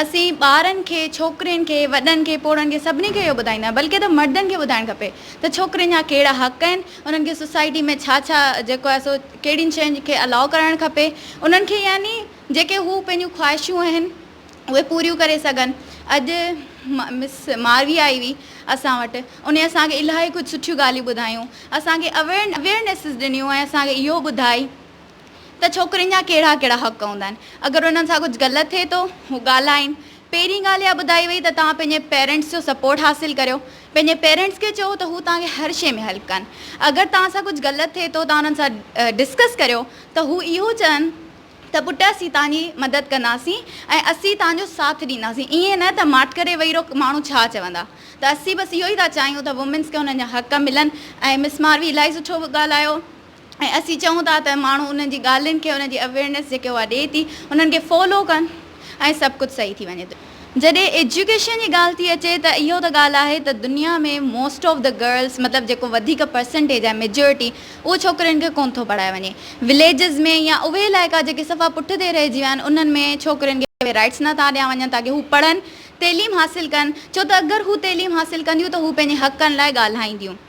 اسين ٻارن کي، ڇوڪرين کي، وڏن کي، پوڙهن کي سڀني کي اهو ٻڌائيندو آهيان بلڪه ته مردن کي ٻڌائڻ کپي ته ڇوڪرين جا ڪهڙا حق آهن، انهن کي سوسائٽي ۾ ڇا ڇا جيڪو آهي سو ڪهڙين شين کي الاء ڪرڻ کپي انهن کي يعني جيڪي هو پنهنجون خواهشون آهن اهي پوريون ڪري سگهن اڄ مس ماروي آئي هئي اسان وٽ انهي اسان کي الاهي ڪجهه سٺيون ڳالهيون ٻڌايون اسان کي اويرنيسز ڏنيون ۽ اسان کي اهو ٻڌائي ته ڇوڪرين جا ڪهڙا ڪهڙا حق هوندا آهن اگر انهن سان ڪجهه غلط ٿئي ٿو هو ڳالهائين پهرين ڳالهه اها ٻڌائي وئي ته توهان پنهنجي پيرنٽس جو سپورٽ حاصل ڪريو پنهنجي پيرنٽس کي چئو ته هو توهان کي هر شئي ۾ هيلپ ڪن اگر توهان سان ڪجهه غلط ٿئي ٿو توهان انهن سان ڊسڪس ڪريو ته هو اهو چون ته پٽ اسين توهان جي مدد ڪنداسين ۽ اسين توهان جو ساٿ ڏينداسين ايئن نه ته ماٺ ڪري وئي رهو ماڻهو ڇا چوندا ته اسين بس اهو ئي ٿا چاهيون ته وومينس کي انهن جا حق ملن ۽ مس ماروي الاهي سٺو ڳالهايو. ۽ اسين چئون ٿا ته ماڻهو انهن جي ڳالهين کي انهن جي اويئرنيس جيڪي اها ڏي ٿي انهن کي فالو ڪن ۽ سڀ ڪجهه صحيح ٿي وڃي ٿو. جڏهن ايجوڪيشن جي ڳالهه ٿي اچي ته اهو ته ڳالهه آهي ته دنيا ۾ موسٽ آف دي گرلس مطلب جيڪو وڌيڪ پرسنٽيج آهي ميجورٽي اهو ڇوڪرين کي ڪون ٿو پڙهايو وڃي وليجز ۾ يا اهي علائقا جيڪي صفا پٺتي رهجي ويا آهن انهن ۾ ڇوڪرين کي اهي رائيٽس نه ٿا ڏيا وڃن تاڪه هو پڙهن تعليم حاصل ڪن ڇو ته اگر هو تعليم حاصل ڪنديون ته هو پنهنجي حقن لاء ڳالهائينديون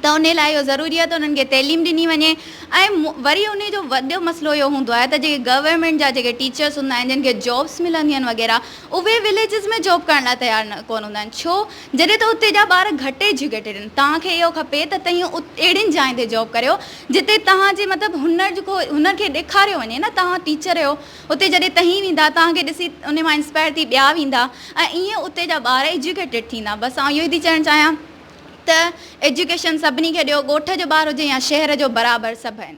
ته انهي لاء اهو ضروري آهي ته انهن کي تعليم ڏني وڃي ۽ وري انهي جو وڏو مسئلو اهو هوندو آهي ته جيڪي گورنمينٽ جا جيڪي ٽيچرس هوندا آهن جن کي جابس ملنديون آهن وغيره اهي وليجز ۾ جاب ڪرڻ لاء تيار ڪونه هوندا آهن ڇو جڏهن ته اتي جا ٻار گهٽ ايجوڪيٽيڊن توهان کي اهو کپي ته تهين اهڙين جاين تي جاب ڪريو جتي توهان جي مطلب هنر جو ڪو هنر کي ڏيکاريو وڃي نه توهان ٽيچر اهيو اتي جڏهن تهين ويندا توهان کي ڏسي انهي مان انسپائر ٿي ٻيا ويندا ۽ ايئن اتي جا ٻار ايجوڪيٽيڊ ٿيندا بس آئون اهيو ئي ٿي چوڻ چاهيان. ته ايجوڪيشن سڀني کي ڏيو ڳوٺ جو ٻار هجي يا شهر جو برابر سڀ آهن.